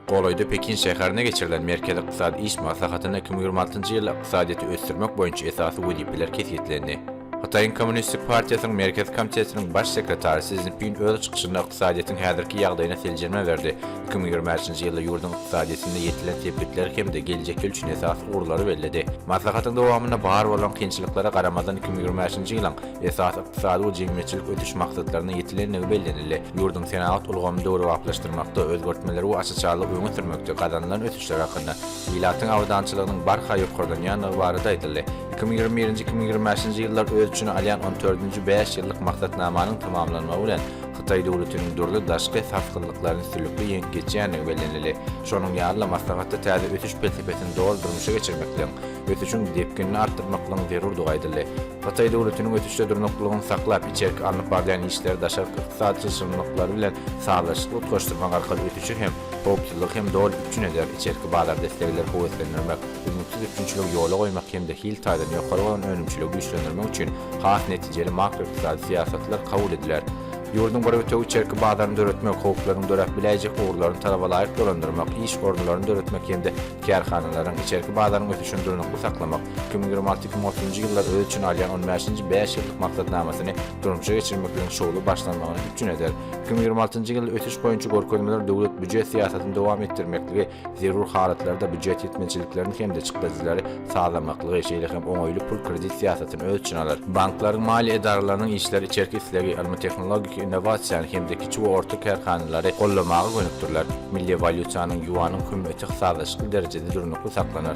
Golaýda Pekin şäherinde geçirilen Merkezi ykdysady iş maslahatynda iki müň ýigrimi altynjy ýylda ykdysadyýeti ösdürmek boýunça esasy wezipeler kesgitlendi. Hytaýyň Kommunistik partiýasynyň Merkezi komitetiniň baş sekretary Si Szinpin öz çykyşynda ykdysadyýetiň häzirki ýagdaýyna seljerme berdi, iki müň ýigrimi bäşinji ýylda ýurduň ykdysadyýetinde ýetilen sepgitleri hem-de geljek ýyl üçin esasy ugurlary belledi. Maslahatyň dowamynda bar bolan kynçylyklara garamazdan iki müň ýigrimi bäşinji ýylyň esasy ykdysady we jemgyýetçilik ösüş maksatlaryna ýetilendigi bellenildi. Ýurduň senagat ulgamyny döwrebaplaşdyrmakda, özgertmeleri we açyşarlygy öňe sürmekde gazanylan ösüşler hakynda, ilatyň abadançylygynyň barha ýokarlanýandygy barada aýdyldy. Iki müň ýigrimi birinji, iki müň ýigrimi bäşinji ýyllar öz içine alýan on dördünji bäş ýyllyk maksatnamanyň tamamlanmagy bilen, hytaý döwletiniň dürli daşky sarsgynlyklaryny üstünlikli ýeňip geçýändigi bellenildi. Şonuň ýaly-da, maslahatda täze ösüş pelsepesini doly durmuşa geçirmekligiň, ösüşiň depginini artdyrmaklygyň zerurdygy aýdyldy. Hytaý döwletiniň ösüşde durnuklylygyny saklap, içerki alnyp barylýan işleri daşarky ykdysady çylşyrymlyklary bilen sazlaşykly utgaşdyrmak arkaly ösüşi hem, howpsuzlygy hem doly üpjün eder, içerki bazarda islegleri höweslendirmek, üznüksiz üpjünçiligi ýola goýmak hem-de hil taýdan ýokary bolan önümçiligi güýçlendirmek üçin has netijeli makroykdysady syýasatlar kabul ediler. Ýurduň bir bütewi içerki bazaryny döretmek, howplaryň döräp biläýjek ugurlaryny talabalaýyk dolandyrmak, iş orunlaryny döretmek hem-de kärhanalaryň, içerki bazaryň ösüşini durnukly saklamak, iki müň ýigrimi alty-iki müň otuzynjy ýyllar öz içine alýan on bäşinji bäş ýyllyk maksatnamasyny durmuşa geçirmek bilen şowly başlanmagyny üpjün eder. Iki müň ýigrimi altynjy ýylda ösüş boýunça görkezmeler döwlet býujet syýasatyny dowam etdirmekligi, zerur halatlarda býujet ýetmezçiliklerini hem-de çykdajylary sazlamaklygy, şeýle hem oňaýly pul-kredit syýasatyny öz içine alar. Banklaryň, maliýe edaralarynyň işleri içerki islegi, ylmy-tehnologik innowasiýany hem-de kiçi we orta kärhanalary goldamaga gönükdiriler. Milli walýutanyň, ýuanyň, hümmeti sazlaşykly derejede durnukly saklanar.